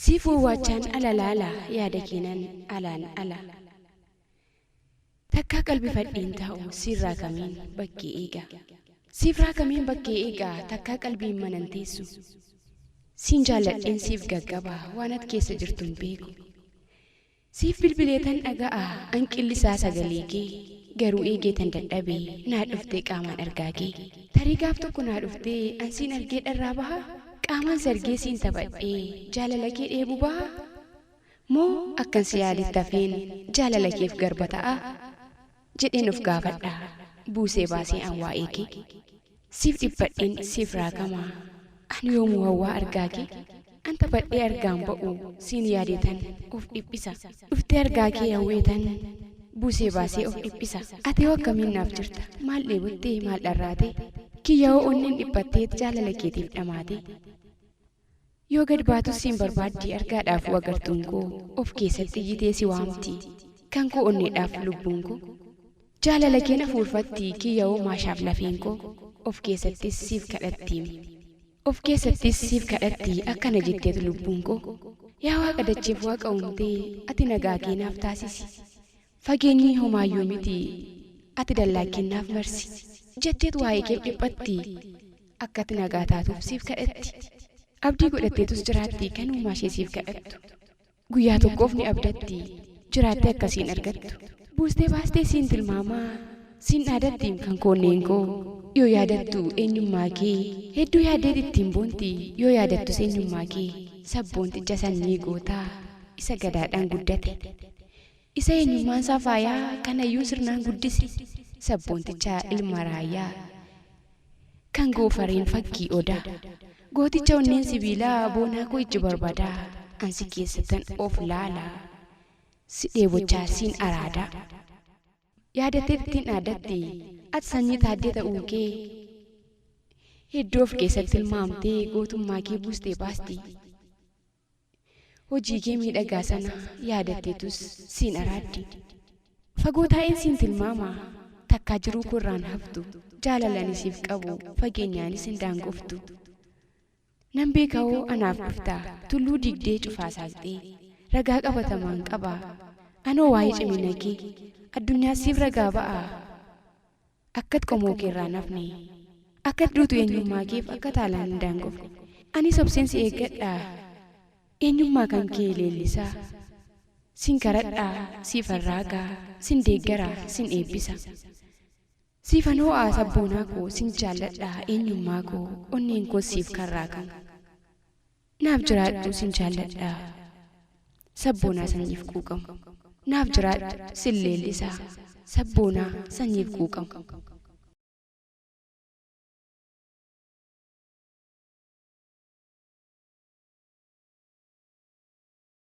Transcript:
Siif wawwaachaan ala laala yaada keenan alaan ala Takkaa qalbifadheen taa'u siirraa kameen bakkee eega Siifraa kameen bakkee eega takkaa qalbiin manan teessu Siin jaalladheen siif gaggaba waan at keessa jirtun beeku Siif bilbileetan dhaga'a an qillisaa sagaleekee Garuu eegeetan dadhabe naa dhuftee qaamaan argaakee Tarii gaaf tokko naa dhuftee an siin argee dharraa bahaa Qaamaan si argee siin taphadhee jaalalakee dheebu bahaa Moo akkan si yaadetti hafeen jaalalakeef garba ta'aa? jedheen of gaafadha Buusee baasee an waa'ee kee Siif dhiphadheen siif raagama An yoomuu hawwaa argaa kee An taphadhee argaan ba'u Siin yaadeetan of dhiphisa Dhuftee argaa kee hawweetan Buusee baasee of dhiphisa Ati hoo akkamiin naaf jirta Maal dheebottee maal dharraatee Kiyya hoo onneen dhiphatteet Jaalala keetiif dhamaatee Yoo gad baatus siin barbaaddi argaadhaafuu agartuun koo of keessatti iyyitee si waamti kan koo onneedhaaf lubbuun koo jaalala keen afuurfatti kiyyawoo maashaaf lafeen koo of keessattis siif kadhattiim of keessattis siif kadhatti akkana jetteet lubbuun koo yaa waaqa dacheef waaqa uumtee ati nagaa kee naaf taasisi Fageenyi homaayyuu miti. Ati dallaa keen naaf marsi. Jetteet waa'ee keef dhiphatti. Akkati nagaa taatuuf siif kadhatti. Abdii godhatteetus jiraatti kan uumaashee siif kadhattu. Guyyaa tokkoof ni abdatti. Jiraattee akka siin argattu. Buustee baastee siin tilmaama. Siin dhaadatti kan koo onneen koo. Yoo yaadattu eenyummaa kee. Hedduu yaaddeet ittiin boonti. Yoo yaadattus eenyummaa kee. Sabboonticha sanyii gootaa. Isa Gadaadhaan guddate. Isa eenyummaansaa faayaa kanayyuu sirnaan guddise sabboonticha ilma raayyaa Kan goofareen fakkii odaa Gooticha onneen sibiilaa boonaa koo ijji barbadaa An si keessattan of laalaa si dheebochaa siin araadaa Yaadattee ittiin dhaadatti ati sanyii Taaddee ta'uukee Hedduu of keessatti tilmaamtee gootummaakee buustee baasti. Hojii kee miidhagaa sana yaadatteetus siin araaddi. Fagoo taa'een siin tilmaama. Takkaa jiruu koo irraan haftu. Jaalala ani siif qabu fageenyaanis hin daangoftu. Nan beeka hoo anaaf dhufta. Tulluu diigdee cufaa saaqxee. Ragaa qabatamaan qaba. Anoo waa'ee cimina kee. Addunyaas siif ragaa ba'a. Akkat qomoo kee irraa hin hafne. Akkat duutu eenyummaa keef akka taalaan hin daangofne. Anis obseen si eeggadhaa. Eenyummaa kan kee leellisaa. Sin karadhaa, siifan raagaa, sin deeggaraa, sin eebbisa. Siifan hoo'aa sabboonaa koo, sin jaalladhaa, eenyummaa koo, onneen koos siif kan raagamu. Naaf jiraadhu sin jaalladha Sabboonaa sanyiif quuqamu Naaf jiraadhu sin leellisa Sabboonaa sanyiif quuqamu.